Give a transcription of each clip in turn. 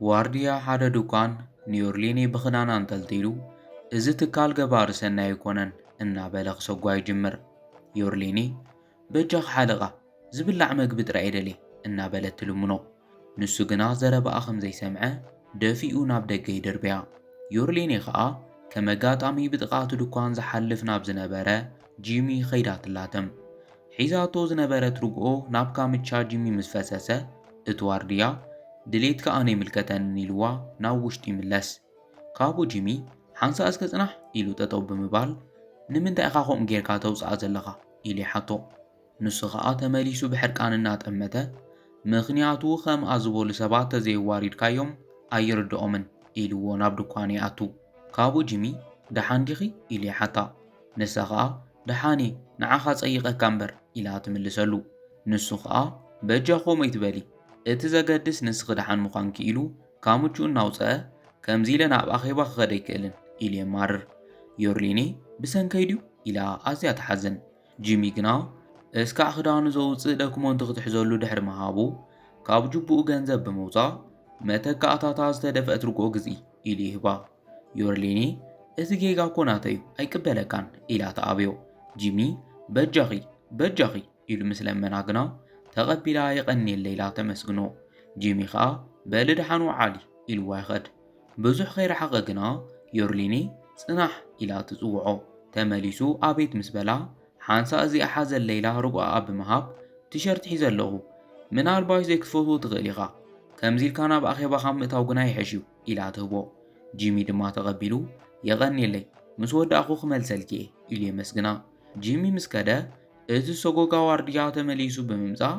ዋርድያ ሓደ ድኳን ኒዮርሊኒ ብኽዳን ኣንጠልጢሉ እዚ ትካል ገባሪ ሰናይ ኣይኮነን እናበለ ክሰጓ ይጅምር። ዮርሊኒ በጃኽ ሓለቓ ዝብላዕ መግቢ ጥራይ እየ ደልየ እናበለት ትልምኖ። ንሱ ግና ዘረባኣ ኸም ዘይሰምዐ ደፊኡ ናብ ደገ ይድርብያ። ዮርሌኔ ኸኣ ከም ኣጋጣሚ ብጥቓ እቲ ድኳን ዝሓልፍ ናብ ዝነበረ ጂሚ ኸይዳ ትላተም። ሒዛቶ ዝነበረት ርግኦ ናብ ካምቻ ጂሚ ምስ ፈሰሰ፣ እቲ ዋርድያ፣ ድሌትካ ኣነ ኣይምልከተንን ኢልዋ ናብ ውሽጢ ይምለስ። ካብኡ ጂሚ፣ ሓንሳእ እስከ ጽናሕ! ኢሉ ጠጠው ብምባል፣ ንምንታይ ኢኻ ከምኡ ጌርካ ተውጽኣ ዘለኻ? ኢሉ ይሓቶ። ንሱ ኸኣ ተመሊሱ ብሕርቃን እናጠመተ፣ ምኽንያቱ ኸምኣ ዝበሉ ሰባት ተዘየዋሪድካዮም ኣይርድኦምን፣ ኢሉዎ ናብ ድኳኑ ይኣቱ። ካብኡ ጂሚ፣ ደሓን ዲኺ? ኢሉ ይሓታ። ንሳ ኸኣ፣ ደሓን'የ፣ ንዓኻ ጸይቐካ እምበር፣ ኢላ ትምልሰሉ። ንሱ ኸኣ፣ በጃ ኸምኡ ኣይትበሊ፣ እቲ ዘገድስ ንስኺ ደሓን ምዃንኪ፣ ኢሉ ካምችኡ እናውጸኣ፣ ከምዚ ኢለ ናብ ኣኼባ ክኸድ ኣይክእልን፣ ኢሉ የማርር። ዮርሊኔ፣ ብሰንከይ ድዩ? ኢላ ኣዝያ ትሓዝን። ጂሚ ግና እስካዕ ክዳኑ ዘውጽእ ደክሞንት ክትሕዘሉ ድሕሪ ምሃቡ ካብ ጁቡኡ ገንዘብ ብምውጻእ መተካእታታ ዝተደፍአት ርግኦ ግዝኢ ኢሉ ይህባ። ዮርሊኒ እዚ ጌጋ እኮ ናተዩ ኣይቅበለካን ኢላ ትኣብዮ። ጂሚ በጃኺ በጃኺ ኢሉ ምስ ለመና ግና ተቐቢላ የቐንየለይ ኢላ ተመስግኖ። ጂሚ ከኣ በሊ ደሓን ውዓሊ ኢልዋ ይኸድ። ብዙሕ ከይረሓቐ ግና ዮርሊኒ ጽናሕ ኢላ ትጽውዖ። ተመሊሱ ኣቤት ምስ በላ፣ ሓንሳእ እዚኣ ሓዘለይ ኢላ ርጉኣኣ ብምሃብ፣ ቲሸርት ሒዘ ኣለኹ፣ ምናልባሽ ዘይክትፈትዎ ትኽእል ኢኻ፣ ከምዚ ኢልካ ናብ ኣኼባ ካብ ምእታው ግና ይሕሽ'ዩ ኢላ ትህቦ። ጂሚ ድማ ተቐቢሉ፣ የቐንየለይ፣ ምስ ወዳእኩ ክመልሰልኪ'የ ኢሉ የመስግና። ጂሚ ምስ ከደ፣ እቲ ሰጎጋ ዋርድያ ተመሊሱ ብምምጻእ፣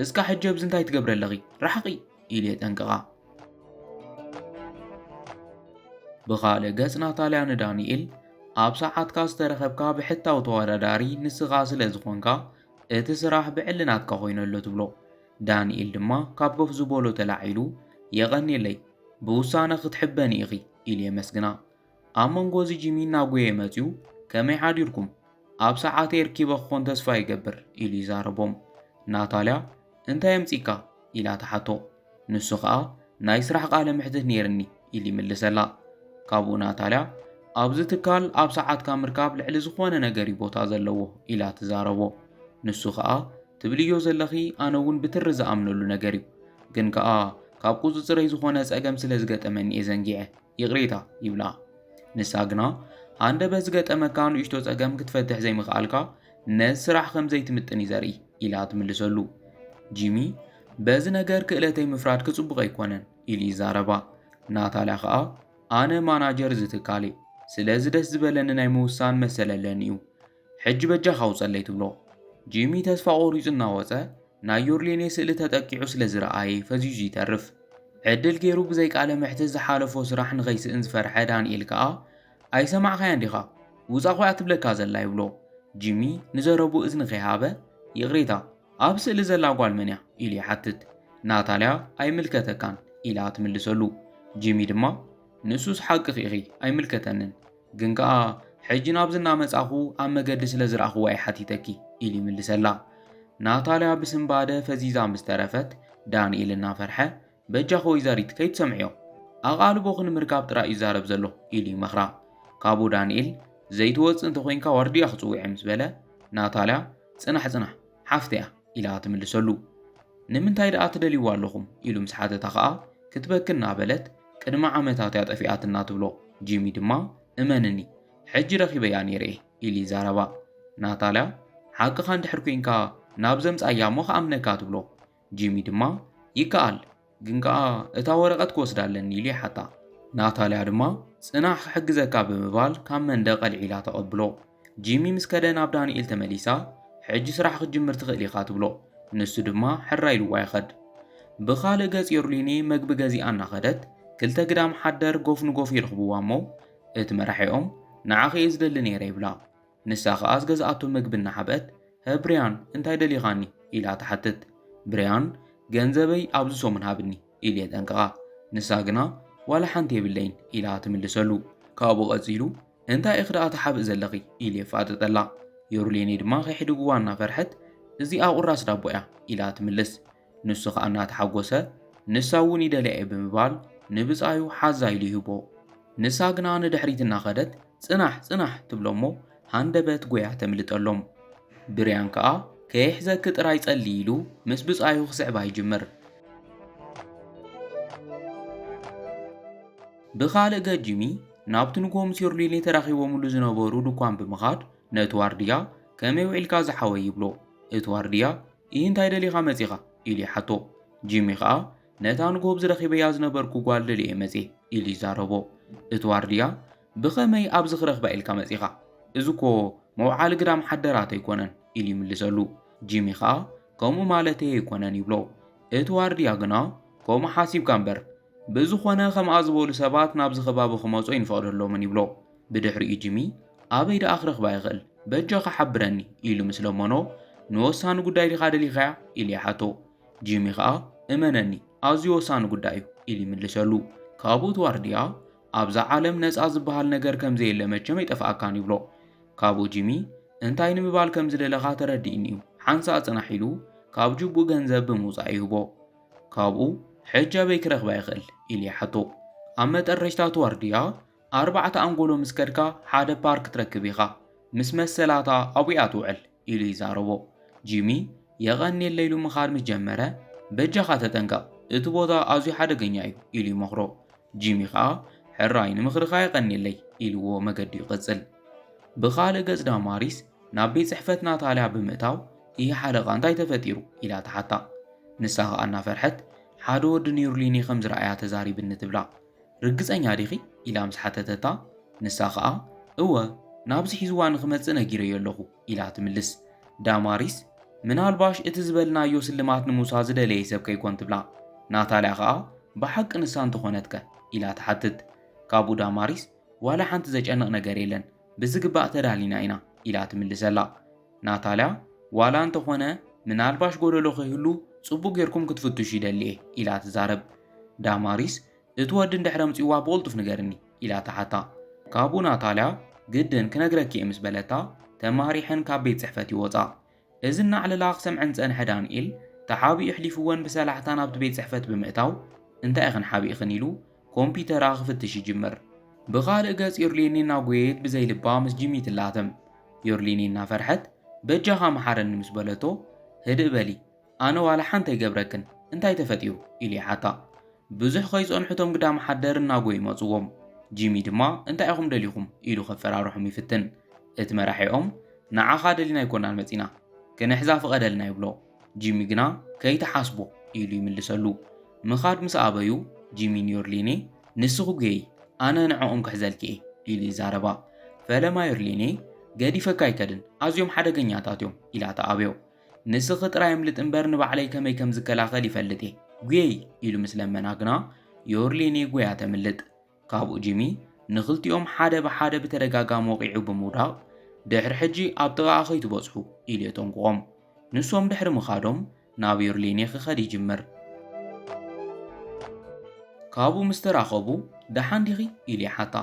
እስካ ሕጂ ኣብዚ እንታይ ትገብሪ ኣለኺ ራሕቂ ኢሉ የጠንቅቃ። ብኻልእ ገጽ ናታልያ ንዳንኤል ኣብ ሰዓትካ ዝተረኸብካ ብሕታዊ ተወዳዳሪ ንስኻ ስለ ዝኾንካ እቲ ስራሕ ብዕሊ ናትካ ኮይኑ ኣሎ ትብሎ። ዳንኤል ድማ ካብ ኮፍ ዝበሎ ተላዒሉ የቐኔለይ ብውሳነ ክትሕበኒ ኢኺ ኢሉ የመስግና። ኣብ መንጎ እዚ ጂሚ እናጎየ መጺኡ ከመይ ሓዲርኩም ኣብ ሰዓተይ ርኪበ ክኾን ተስፋ ይገብር ኢሉ ይዛረቦም። ናታልያ እንታይ ኣምጺእካ ኢላ ትሓቶ። ንሱ ከኣ ናይ ስራሕ ቃለ መሕትት ነይርኒ ኢሉ ይምልሰላ። ካብኡ ናታልያ ኣብዚ ትካል ኣብ ሰዓትካ ምርካብ ልዕሊ ዝኾነ ነገር እዩ ቦታ ዘለዎ ኢላ ትዛረቦ። ንሱ ከኣ ትብልዮ ዘለኺ ኣነ እውን ብትሪ ዝኣምነሉ ነገር እዩ ግን ከኣ ካብ ቁጽጽረይ ዝኾነ ጸገም ስለ ዝገጠመኒ እየ ዘንጊዐ ይቕሬታ ይብላ። ንሳ ግና ሃንደበት ዝገጠመካ ንእሽቶ ጸገም ክትፈትሕ ዘይምኽኣልካ ነዚ ስራሕ ከም ዘይትምጥን እዩ ዘርኢ ኢላ ትምልሰሉ። ጂሚ በዚ ነገር ክእለተይ ምፍራድኪ ጽቡቕ ኣይኮነን ኢሉ ይዛረባ። ናታልያ ከኣ ኣነ ማናጀር እዚ ትካል እየ፣ ስለዚ ደስ ዝበለኒ ናይ ምውሳን መሰል ኣለኒ እዩ። ሕጂ በጃኻ ውጸለይ ትብሎ። ጂሚ ተስፋ ቆሪጹ እናወጸ ናይ ዮርሌኔ ስእሊ ተጠቂዑ ስለ ዝረኣየ ፈዚዙ ይተርፍ። ዕድል ጌሩ ብዘይ ቃለ መሕትት ዝሓለፎ ስራሕ ንኸይስእን ዝፈርሐ ዳንኤል ከኣ ኣይሰማዕካያን ዲኻ ውጻ ኮይ'ያ ትብለካ ዘላ ይብሎ። ጂሚ ንዘረብኡ እዝኒ ከይሃበ ይቕሬታ ኣብ ስእሊ ዘላ ጓል መን'ያ? ኢሉ ይሓትት። ናታልያ ኣይምልከተካን ኢላ ትምልሰሉ። ጂሚ ድማ ንሱስ ሓቅኺ ኢኺ ኣይምልከተንን። ግን ከኣ ሕጂ ናብዚ እናመጻኹ ኣብ መገዲ ስለ ዝረኣኹዋ እየ ሓቲተኪ ኢሉ ይምልሰላ። ናታልያ ብስንባደ ፈዚዛ ምስ ተረፈት ዳንኤል እናፈርሐ በጃኺ ወይዘሪት ከይትሰምዕዮ ኣቓልቦኺ ንምርካብ ጥራይ እዩ ዛረብ ዘሎ ኢሉ ይመኽራ። ካብኡ ዳንኤል ዘይትወጽእ እንተኾይንካ ዋርድያ ክጽውዕ ምስ በለ ናታልያ ጽናሕ ጽናሕ ሓፍተያ ኢላ ትምልሰሉ። ንምንታይ ደኣ ትደልይዎ ኣለኹም? ኢሉ ምስ ሓተታ ከኣ ክትበኪ እናበለት ቅድሚ ዓመታት እያ ጠፊኣትና ትብሎ። ጂሚ ድማ እመንኒ ሕጂ ረኺበያ ነይረ'የ ኢሉ ይዛረባ። ናታልያ ሓቅኻ እንድሕር ኴንካ ናብ ዘምጽኣያ እሞ ክኣምነካ ትብሎ። ጂሚ ድማ፣ ይከኣል፣ ግን ከኣ እታ ወረቐት ክወስዳ ኣለኒ ኢሉ ይሓታ። ናታልያ ድማ፣ ጽናሕ ክሕግዘካ ብምባል ካብ መንደቕ ኣልዒላ ተቐብሎ። ጂሚ ምስ ከደ ናብ ዳንኤል ተመሊሳ፣ ሕጂ ስራሕ ክትጅምር ትኽእል ኢኻ ትብሎ። ንሱ ድማ ሕራይ ኢልዋ ይኸድ። ብኻልእ ገጽ ዮርሊኔ መግቢ ገዚኣ እናኸደት ክልተ ግዳም ሓደር ጎፍ ንጎፍ ይረኽብዋ እሞ፣ እቲ መራሒኦም፣ ንዓኺ እየ ዝደሊ ነይረ ይብላ። ንሳ ኸኣ ዝገዝኣቶ ምግቢ እናሓብአት፣ ሀ ብርያን፣ እንታይ ደሊኻኒ? ኢላ ትሓትት። ብርያን፣ ገንዘበይ ኣብዚ ሰሙን ሃብኒ፣ ኢሉ የጠንቅቓ። ንሳ ግና፣ ዋላ ሓንቲ የብለይን፣ ኢላ ትምልሰሉ። ካብኡ ቀጺሉ፣ እንታይ ኢኺ ደኣ ትሓብኢ ዘለኺ? ኢሉ የፋጥጠላ። ዮርሌኔ ድማ ከየሕድግዋ እናፈርሐት፣ እዚኣ ቁራስ ዳቦ'ያ፣ ኢላ ትምልስ። ንሱ ኸኣ እናተሓጐሰ ንሳ እውን ይደልያ እየ ብምባል ንብጻዩ ሓዛ ኢሉ ይህቦ። ንሳ ግና ንድሕሪት እናኸደት ጽናሕ ጽናሕ ትብሎ እሞ ሃንደበት ጐያ ተምልጠሎም። ብርያን ከኣ ከይሕዘኪ ጥራይ ጸልዪ ኢሉ ምስ ብጻዩ ክስዕባ ይጅምር። ብኻልእ ገጽ ጂሚ ናብቲ ንግሆ ምስ ዮርሊኔ ተራኺቦምሉ ዝነበሩ ድኳን ብምኻድ ነቲ ዋርድያ ከመይ ውዒልካ ዝሓወይ ይብሎ። እቲ ዋርድያ ኢሂ እንታይ ደሊኻ መጺኻ? ኢሉ ይሓቶ። ጂሚ ኸኣ ነታ ንጎብዝ ረኺበያ ዝነበርኩ ጓል ደልየ'የ መጽየ ኢሉ ይዛረቦ። እቲ ዋርድያ ብኸመይ ኣብዚ ክረኽባ ኢልካ መጺኻ? እዚ'ኮ መውዓሊ ግዳም ሓደራት ኣይኮነን ኢሉ ይምልሰሉ። ጂሚ ኸኣ ከምኡ ማለተይ ኣይኮነን ይብሎ። እቲ ዋርድያ ግና ከምኡ ሓሲብካ'ምበር ብዝኾነ ከምኣ ዝበሉ ሰባት ናብዚ ከባቢ ክመጹ ኣይንፈቕደሎምን ይብሎ። ብድሕሪኡ ጂሚ ኣበይ ደኣ ክረኽባ ይኽእል በጃኻ ሓብረኒ ኢሉ ምስ ለመኖ ንወሳኒ ጉዳይ ዲኻ ደሊኻያ ኢሉ ይሓቶ ጂሚ ኸኣ እመነኒ ኣዝዩ ወሳኒ ጉዳይ እዩ ኢሉ ይምልሰሉ ካብኡ እቲ ዋርድያ ኣብዛ ዓለም ነፃ ዝበሃል ነገር ከም ዘየለ መቸም ኣይጠፍኣካን ይብሎ ካብኡ ጂሚ እንታይ ንምባል ከም ዝደለኻ ተረዲእኒ እዩ ሓንሳእ ጽናሕ ኢሉ ካብ ጅቡእ ገንዘብ ብምውጻእ ይህቦ ካብኡ ሕጂ ኣበይ ክረኽባ ይኽእል ኢሉ ይሓቶ ኣብ መጠረሽታ እቲ ዋርድያ ኣርባዕተ ኣንጎሎ ምስ ከድካ ሓደ ፓርክ ትረክብ ኢኻ። ምስ መሰላታ ኣቡ'ያ ትውዕል ኢሉ ይዛረቦ። ጂሚ የቐንየለይ ኢሉ ምኻድ ምስ ጀመረ፣ በጃኻ ተጠንቀቕ፣ እቲ ቦታ ኣዝዩ ሓደገኛ እዩ ኢሉ ይመኽሮ። ጂሚ ኸኣ ሕራይ ንምኽርኻ የቐንየለይ ኢሉዎ መገዱ ይቕጽል። ብኻልእ ገጽ ዳማሪስ ናብ ቤት ጽሕፈት ናታልያ ብምእታው እሂ ሓለቓ እንታይ ተፈጢሩ? ኢላ ትሓታ። ንሳ ኸኣ እናፈርሐት ሓደ ወዲ ኒርሊኒ ከም ዝረኣያ ተዛሪብኒ ትብላ። ርግጸኛ ዲኺ? ኢላ ምስ ሓተተታ፣ ንሳ ኸኣ፣ እወ፣ ናብዚ ሒዝዋ ንኽመጽእ ነጊረዮ ኣለኹ፣ ኢላ ትምልስ። ዳማሪስ፣ ምናልባሽ እቲ ዝበልናዮ ስልማት ንምውሳድ ዝደለየ ሰብ ከይኰን ትብላ። ናታልያ ኸኣ፣ ብሓቂ ንሳ እንተ ዀነትከ? ኢላ ትሓትት። ካብኡ ዳማሪስ፣ ዋላ ሓንቲ ዘጨንቕ ነገር የለን፣ ብዝግባእ ተዳሊና ኢና ኢላ ትምልሰላ። ናታልያ ዋላ እንተኾነ ምናልባሽ ጎደሎ ከይህሉ ጽቡቕ ጌርኩም ክትፍትሹ ይደሊ እየ ኢላ ትዛረብ። ዳማሪስ እቲ ወዲ እንድሕር ኣምጺዋ ብቕልጡፍ ንገርኒ ኢላ ትሓታ። ካብኡ ናታልያ ግድን ክነግረኪ እየ ምስ በለታ ተማሪሐን ካብ ቤት ጽሕፈት ይወጻ። እዚ እናዕለላ ክሰምዐን ዝጸንሐ ዳንኤል፣ ተሓቢኡ ኣሕሊፍወን ብሰላሕታ ናብቲ ቤት ጽሕፈት ብምእታው፣ እንታይ ኢኽን ሓቢእኽን ኢሉ ኮምፒተራ ክፍትሽ ይጅምር። ብኻልእ ገጽ ዩርሊኒ እናጎየየት ብዘይ ልባ ምስ ጂሚ ትላተም። ዩርሊኒ እናፈርሐት በጃኻ ምሓረኒ ምስ በለቶ፣ ህድእ በሊ፣ ኣነ ዋላ ሓንቲ ኣይገብረክን፣ እንታይ ተፈጢሩ? ኢሉ ይሓታ። ብዙሕ ከይጸንሑ እቶም ግዳም ሓደር እናጎዩ መጹዎም። ጂሚ ድማ እንታይ ኢኹም ደሊኹም? ኢሉ ከፈራርሖም ይፍትን። እቲ መራሒኦም ንዓኻ ደሊና ኣይኮናን መጺና ክንሕዛ ፍቐደልና ይብሎ። ጂሚ ግና ከይትሓስቦ ኢሉ ይምልሰሉ። ምኻድ ምስ ኣበዩ ጂሚ ንዮርሊኔ ንስኺ ጐየዪ ኣነ ንዕኦም ክሕዘልኪ'የ ኢሉ ይዛረባ። ፈለማ ዮርሊኔ ገዲፈካ ኣይከድን ኣዝዮም ሓደገኛታት'ዮም ኢላ ትኣብዮ። ንስኺ ጥራይ ኣምልጢ እምበር ንባዕለይ ከመይ ከም ዝከላኸል ይፈልጥ'የ ጐየዪ ኢሉ ምስ ለመና ግና ዮርሊኔ ጐይያ ተምልጥ። ካብኡ ጂሚ ንኽልቲኦም ሓደ ብሓደ ብተደጋጋሚ ወቒዑ ብምውዳቕ ድሕሪ ሕጂ ኣብ ጥቓኣ ከይትበጽሑ ኢሉ የጠንቅቖም። ንሶም ድሕሪ ምኻዶም ናብ ዩርሊኔ ክኸድ ይጅምር። ካብኡ ምስ ተራኸቡ ደሓን ዲኺ ኢሉ ይሓታ።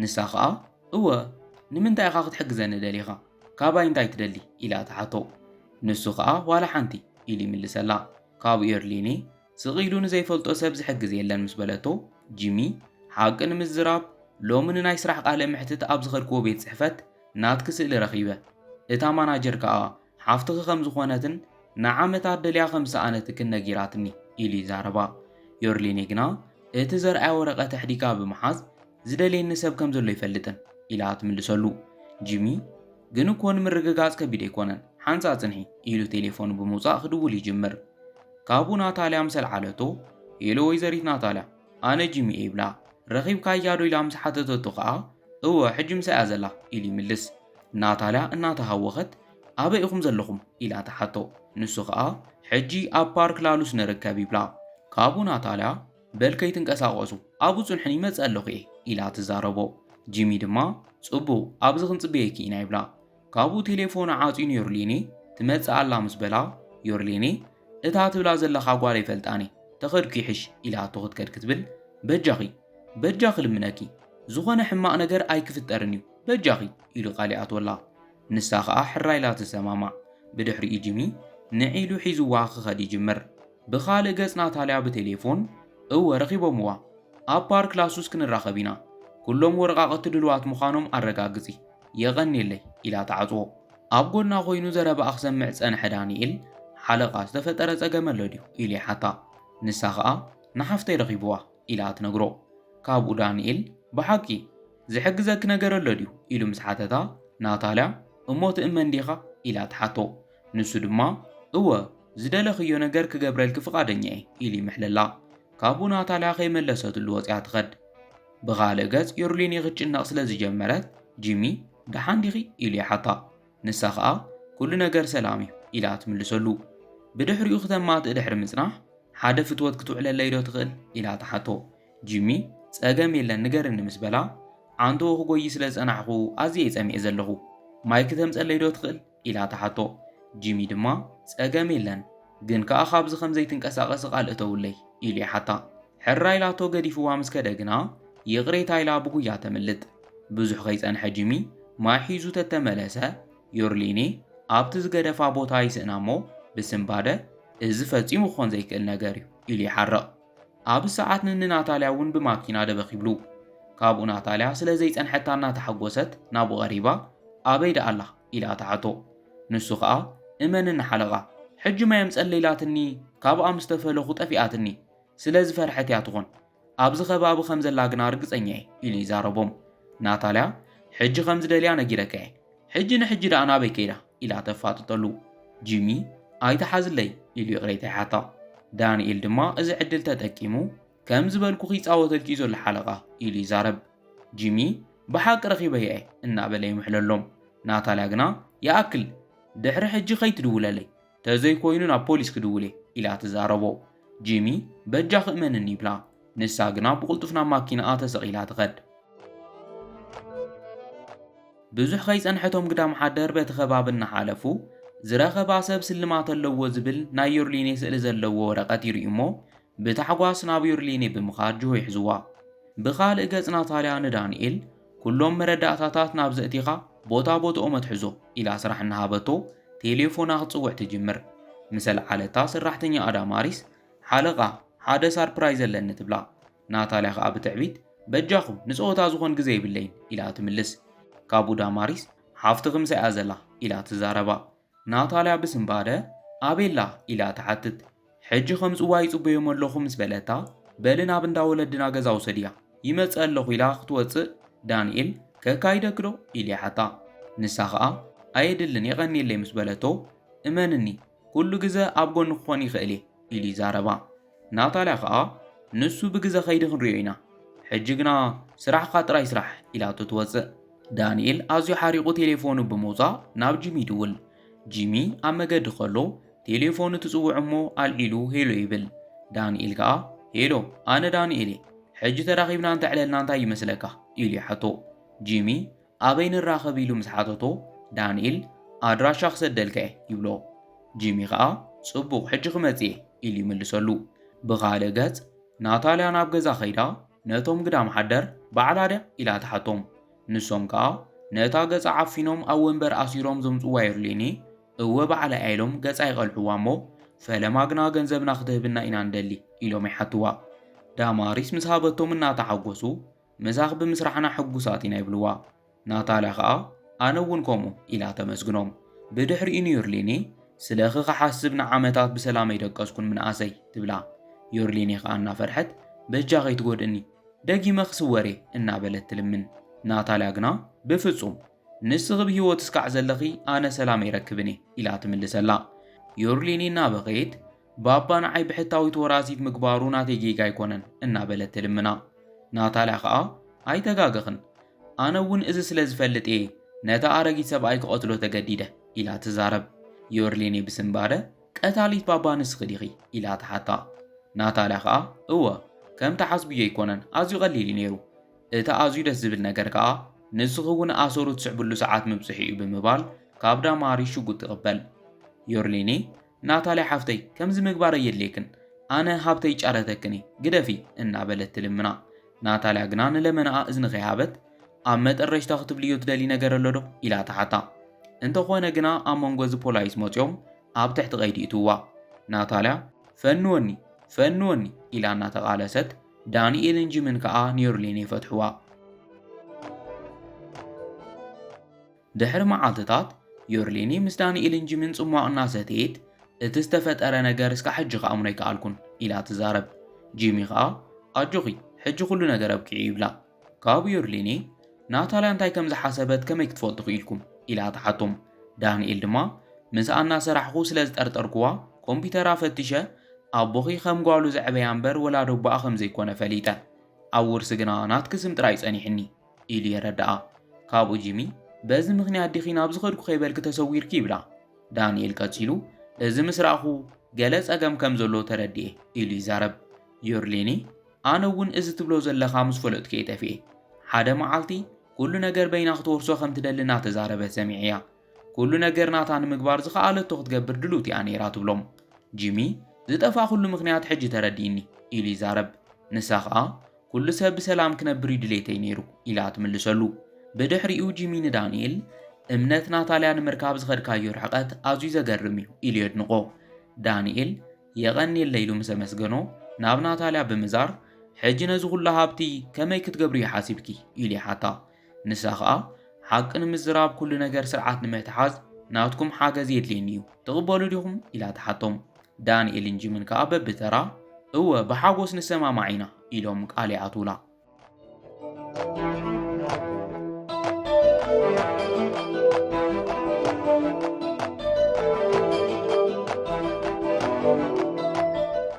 ንሳ ኸኣ እወ ንምንታይ ኢኻ ክትሕግዘኒ ደሊኻ ካባይ እንታይ ትደሊ ኢላ ትሓቶ። ንሱ ኸኣ ዋላ ሓንቲ ኢሉ ይምልሰላ። ካብኡ ዩርሊኔ ስቕ ኢሉ ንዘይፈልጦ ሰብ ዝሕግዝ የለን ምስ በለቶ፣ ጂሚ፣ ሓቂ ንምዝራብ፣ ሎሚ ንናይ ስራሕ ቃለ መሕትት ኣብ ዝኸድክዎ ቤት ጽሕፈት ናትኪ ስእሊ ረኺበ። እታ ማናጀር ከኣ ሓፍትኺ ከም ዝኾነትን ንዓመታት ደልያ ከም ዝሰኣነትክን ነጊራትኒ፣ ኢሉ ይዛረባ። ዮርሊኔ ግና እቲ ዘርኣያ ወረቐት ኣሕዲጋ ብምሓዝ፣ ዝደልየኒ ሰብ ከም ዘሎ ኣይፈልጥን ኢላ ትምልሰሉ። ጂሚ ግን እኮ ንምርግጋጽ ከቢድ ኣይኮነን፣ ሓንጻ ጽንሒ ኢሉ ቴሌፎኑ ብምውጻእ ክድውል ይጅምር። ካብኡ ናታልያ ምስ ኣልዓለቶ፣ ሄሎ ወይዘሪት ናታልያ፣ ኣነ ጂሚ እየ ይብላ። ረኺብካያ ዶ ኢላ ምስ ሓተተቶ ከኣ፣ እወ ሕጂ ምሳይ'ያ ዘላ ኢሉ ይምልስ። ናታልያ እናተሃወኸት፣ ኣበይ ኢኹም ዘለኹም ኢላ ትሓቶ። ንሱ ከኣ፣ ሕጂ ኣብ ፓርክ ላሉስ ንርከብ ይብላ። ካብኡ ናታልያ፣ በል ከይትንቀሳቐሱ ኣብኡ ጽንሑኒ ይመጽእ ኣለኹ እየ ኢላ ትዛረቦ። ጂሚ ድማ ጽቡቕ ኣብዚ ክንጽበየኪ ኢና ይብላ። ካብኡ ቴሌፎኑ ዓጽዩ ንዮርሌኔ ትመጽእ ኣላ ምስ በላ ዮርሌኔ እታ ትብላ ዘለኻ ጓል ኣይፈልጣን እየ ተኸድኩ ይሕሽ ኢላቶ ክትከድ ክትብል በጃኺ በጃኺ ልምነኪ ዝኾነ ሕማቕ ነገር ኣይክፍጠርን እዩ በጃኺ ኢሉ ቃል ይኣትወላ ንሳ ኸኣ ሕራይላ ትሰማማዕ ብድሕሪኡ ጂሚ ንዒሉ ሒዝዋ ክኸድ ይጅምር ብኻልእ ገጽ ናታልያ ብቴሌፎን፣ እወ ረኺቦምዋ። ኣብ ፓርክ ላሱስ ክንራኸብ ኢና። ኩሎም ወረቓቕቲ ድሉዋት ምዃኖም ኣረጋግጺ። የቐንየለይ፣ ኢላ ትዓጽዎ። ኣብ ጎድና ኮይኑ ዘረባኣ ክሰምዕ ዝጸንሐ ዳኒኤል፣ ሓለቓ ዝተፈጠረ ጸገም ኣሎ ድዩ? ኢሉ ይሓታ። ንሳ ኸኣ፣ ንሓፍተይ ረኺቡዋ፣ ኢላ ትነግሮ። ካብኡ ዳኒኤል፣ ብሓቂ? ዝሕግዘኪ ነገር ኣሎ ድዩ? ኢሉ ምስ ሓተታ፣ ናታልያ፣ እሞ ትእመን ዲኻ? ኢላ ትሓቶ። ንሱ ድማ፣ እወ፣ ዝደለኽዮ ነገር ክገብረልኪ ፍቓደኛ'የ፣ ኢሉ ይምሕለላ። ካብኡ ናታልያ ከይመለሰትሉ ወጺኣ ትኸድ። ብኻልእ ገጽ ዩርሊኒ ክትጭነቕ ስለ ዝጀመረት፣ ጂሚ፣ ደሓን ዲኺ? ኢሉ ይሓታ። ንሳ ኸኣ፣ ኩሉ ነገር ሰላም'ዩ፣ ኢላ ትምልሰሉ። ብድሕሪኡ ክተማትእ ድሕሪ ምጽናሕ፣ ሓደ ፍትወት ክትውዕለለይ'ዶ ትኽእል? ኢላ ትሓቶ። ጂሚ፣ ጸገም የለን ንገርኒ ምስ በላ፣ ዓንተኡ ክጎዪ ስለ ዝጸናሕኩ ኣዝየ'የ ጸሚኤ ዘለኹ። ማይ ክተምጸለይ'ዶ ትኽእል? ኢላ ትሓቶ። ጂሚ ድማ ጸገም የለን፣ ግን ከኣ ካብዚ ከም ዘይትንቀሳቐሲ ቃል እተውለይ፣ ኢሉ ይሓታ። ሕራይ ኢላቶ ገዲፍዋ ምስ ከደ ግና፣ ይቕሬታ ኢላ ብጉያ ተምልጥ። ብዙሕ ከይጸንሐ ጂሚ ማይ ሒዙ ተተመለሰ፣ ዮርሊኔ ኣብቲ ዝገደፋ ቦታ ይስእና እሞ ብስንባደ፣ እዚ ፈጺሙ ክኾን ዘይክእል ነገር እዩ፣ ኢሉ ይሓርቕ። ኣብ ሰዓት ንንናታልያ እውን ብማኪና ደበኽ ይብሉ። ካብኡ ናታልያ ስለ ዘይጸንሐታ እናተሓጎሰት ናብኡ ቀሪባ ኣበይ ደኣ ኣላ? ኢላ ትሓቶ። ንሱ ከኣ እመንኒ ሓለቓ፣ ሕጂ ማይ ኣምጸለይ ኢላትኒ ካብኣ ምስ ተፈለኹ ጠፊኣትኒ። ስለ ዝፈርሐት እያ ትኾን። ኣብዚ ከባቢ ከም ዘላ ግና ርግጸኛ እየ ኢሉ ይዛረቦም። ናታልያ ሕጂ ከም ዝደልያ ነጊረካ እየ። ሕጂ ንሕጂ ደኣ ናበይ ከይዳ ኢላ ተፋጥጠሉ። ጂሚ ኣይትሓዝለይ ኢሉ ይቕሬታ ይሓታ። ዳንኤል ድማ እዚ ዕድል ተጠቂሙ ከም ዝበልኩኺ ይጻወተልኪ እዩ ዘሎ ሓለቓ ኢሉ ይዛረብ። ጂሚ ብሓቂ ረኺበያ እየ እናበለ ይምሕለሎም። ናታልያ ግና ይኣክል ድሕሪ ሕጂ ከይትድውለለይ ተዘይኮይኑ ናብ ፖሊስ ክድውል እየ ኢላ ትዛረቦ። ጂሚ፣ በጃኺ እመንኒ ይብላ። ንሳ ግና ብቕልጡፍ ናብ ማኪናኣ ተሰቒላ ትኸድ። ብዙሕ ከይጸንሐቶም ግዳም ሓደር በቲ ከባቢ እናሓለፉ ዝረኸባ ሰብ ስልማት ኣለዎ ዝብል ናይ ዮርሊኔ ስእሊ ዘለዎ ወረቐት ይርእዩ እሞ ብታሕጓስ ናብ ዮርሊኔ ብምኻድ ጅሆ ይሕዝዋ። ብኻልእ ገጽ ናታልያ ንዳንኤል ኩሎም መረዳእታታት ናብ ዘእቲኻ ቦታ ቦትኦም ኣትሕዞ ኢላ ስራሕ እናሃበቶ ቴሌፎና ክትጽውዕ ትጅምር። ምስ ኣልዓለታ ሰራሕተኛኣ ዳማሪስ ሓለቓ ሓደ ሳርፕራይዝ ኣለኒ ትብላ። ናታልያ ከኣ ብትዕቢት በጃኹም ንጸወታ ዝኾን ግዘ የብለይን ኢላ ትምልስ። ካብኡ ዳማሪስ ሓፍትኺ ምሳይ'ያ ዘላ ኢላ ትዛረባ። ናታልያ ብስንባደ፣ ኣቤላ? ኢላ ትሓትት። ሕጂ ከምጽዋ ይጽበዮም ኣለኹ ምስ በለታ፣ በሊ ናብ እንዳ ወለድና ገዛ ውሰድያ፣ ይመጽእ ኣለኹ ኢላ ክትወጽእ፣ ዳንኤል፣ ከካይደኪዶ? ኢሉ ይሓታ። ንሳ ኸኣ፣ ኣየድልን የቐንየለይ ምስ በለቶ፣ እመንኒ፣ ኩሉ ግዘ ኣብ ጎኒ ክኾን ይኽእል'የ ኢሉ ይዛረባ። ናታልያ ከኣ ንሱ ብግዘ ከይዲ ክንሪኦ ኢና ሕጂ ግና ስራሕኻ ጥራይ ስራሕ ኢላቶ ትወጽእ። ዳኒኤል ኣዝዩ ሓሪቑ ቴሌፎኑ ብምውጻእ ናብ ጂሚ ይድውል። ጂሚ ኣብ መገዲ ከሎ ቴሌፎኑ ትጽውዕ እሞ ኣልዒሉ ሄሎ ይብል። ዳኒኤል ከኣ ሄሎ ኣነ ዳኒኤል እየ ሕጂ ተራኺብና እንተዕለልና እንታይ ይመስለካ ኢሉ ይሓቶ። ጂሚ ኣበይ ንራኸብ ኢሉ ምስ ሓተቶ፣ ዳንኤል ኣድራሻ ክሰደልካ እየ ይብሎ። ጂሚ ኸኣ ጽቡቕ ሕጂ ክመጽእ እየ ኢሉ ይምልሰሉ። ብኻልእ ገጽ ናታልያ ናብ ገዛ ከይዳ ነቶም ግዳም ሓደር ባዕላ ድያ ኢላ ትሓቶም። ንሶም ከኣ ነታ ገጻ ዓፊኖም ኣብ ወንበር ኣሲሮም ዘምጽዋ ዩርሌኒ እወ ባዕላይ እያ ኢሎም ገጻ ይቐልዕዋ እሞ ፈለማ ግና ገንዘብና ክትህብና ኢና ንደሊ ኢሎም ይሓትዋ። ዳማሪስ ምስ ሃበቶም እናተሓጎሱ ምሳኽ ብምስራሕና ሕጉሳት ኢና ይብልዋ። ናታልያ ኸኣ ኣነ እውን ከምኡ ኢላ ተመስግኖም። ብድሕሪኡ ንዩርሊኒ ስለኺ ክሓስብ ንዓመታት ብሰላም ኣይደቀስኩን ምንኣሰይ ትብላ። ዩርሊኒ ኸኣ እናፈርሐት በጃ ከይትጎድእኒ ደጊመ ክስወር እየ እናበለት ትልምን። ናታልያ ግና ብፍጹም ንስኺ ብህይወት እስካዕ ዘለኺ ኣነ ሰላም ኣይረክብን እየ ኢላ ትምልሰላ። ዩርሊኒ እናበኸየት ባባ ንዓይ ብሕታዊት ወራሲት ምግባሩ ናተይ ጌጋ ኣይኮነን እናበለት ትልምና። ናታልያ ከኣ ኣይተጋገኽን፣ ኣነ እውን እዚ ስለ ዝፈልጥ እየ ነቲ ኣረጊት ሰብኣይ ክቐትሎ ተገዲደ ኢላ ትዛረብ። ዮርሊኔ ብስንባደ ቀታሊት ባባ ንስኺ ዲኺ? ኢላ ትሓታ። ናታልያ ከኣ እወ፣ ከም ትሓስብዮ ኣይኮነን፣ ኣዝዩ ቀሊል እዩ ነይሩ። እቲ ኣዝዩ ደስ ዝብል ነገር ከኣ ንስኺ እውን ኣሰሩ ትስዕብሉ ሰዓት ምብጽሑ እዩ ብምባል ካብ ዳማሪስ ሽጉጥ ትቕበል። ዮርሊኔ ናታልያ ሓፍተይ ከምዚ ምግባር ኣየድልየክን ኣነ ሃብተይ ጫረተክን እየ ግደፊ እናበለት ትልምና ናታልያ ግና ንለመናኣ እዝኒ ከይሃበት ኣብ መጠረሽታ ክትብልዮ ትደሊ ነገር ኣሎ ዶ ኢላ ትሓታ እንተኾነ ግና ኣብ መንጎ እዚ ፖላይስ መፅዮም ኣብ ትሕቲ ቀይዲ እትዋ ናታልያ ፈንወኒ ፈንወኒ ኢላ እናተቓለሰት ዳንኤልን ጂምን ከዓ ኒዮርሌን የፈትሕዋ። ድሕሪ መዓልትታት፣ ዮርሌኒ ምስ ዳንኤልን ጂምን ጽሟቕ እናሰተየት፣ እቲ ዝተፈጠረ ነገር እስካዕ ሕጂ ክኣምኖ ኣይከኣልኩን ኢላ ትዛረብ። ጂሚ ከኣ ኣጆኺ ሕጂ ኩሉ ነገር ኣብቂዑ ይብላ። ካብ ዮርሌኒ ናታልያ እንታይ ከም ዝሓሰበት ከመይ ክትፈልጡ ክኢልኩም? ኢላ ትሓቶም። ዳንኤል ድማ ምስኣ እናሰራሕኹ ስለ ዝጠርጠርኩዋ ኮምፒተራ ፈቲሸ ኣቦኺ ከም ጓሉ ዘዕበያ እምበር ወላዲ ኣቦኣ ከም ዘይኮነ ፈሊጠ። ኣብ ውርሲ ግና ናትኪ ስም ጥራይ ጸኒሑኒ። ኢሉ የረድኣ። ካብኡ ጂሚ በዚ ምኽንያት ዲኺ ናብ ዝኸድኩ ከይበልኪ ተሰዊርኪ ይብላ። ዳንኤል ቀጺሉ እዚ ምስ ረኣኹ ገለ ጸገም ከም ዘሎ ተረዲኤ ኢሉ ይዛረብ። ዩርሊኒ ኣነ እውን እዚ ትብሎ ዘለኻ ምስ ፈለጥኩ እየ ጠፊኤ። ሓደ መዓልቲ ኩሉ ነገር በይና ክትወርሶ ከም ትደሊ እናተዛረበት ሰሚዐያ። ኩሉ ነገር ናታ ንምግባር ዝኸኣለቶ ክትገብር ድልውቲ እያ ነይራ ትብሎም። ጂሚ ዝጠፋእኹሉ ምኽንያት ሕጂ ተረዲእኒ ኢሉ ይዛረብ። ንሳ ኸኣ ኩሉ ሰብ ብሰላም ክነብር እዩ ድሌተይ ነይሩ ኢላ ትምልሰሉ። ብድሕሪኡ ጂሚ ንዳንኤል እምነት ናታልያ ንምርካብ ዝኸድካዮ ርሕቐት ኣዝዩ ዘገርም እዩ ኢሉ የድንቖ። ዳንኤል የቐንየለ ኢሉ ምስ ኣመስገኖ ናብ ናታልያ ብምዛር ሕጂ ነዚ ኩሉ ሃብቲ ከመይ ክትገብርዮ ሓሲብኪ ኢሉ ይሓታ። ንሳ ኸኣ ሓቂ ንምዝራብ ኩሉ ነገር ስርዓት ንምትሓዝ ናትኩም ሓገዝ የድልየኒ እዩ ትቕበሉ ዲኹም ኢላ ትሓቶም ዳንኤልን ጂምን ከኣ በብተራ እወ ብሓጎስ ንሰማማዕ ኢና ኢሎም ቃል ይኣትውላ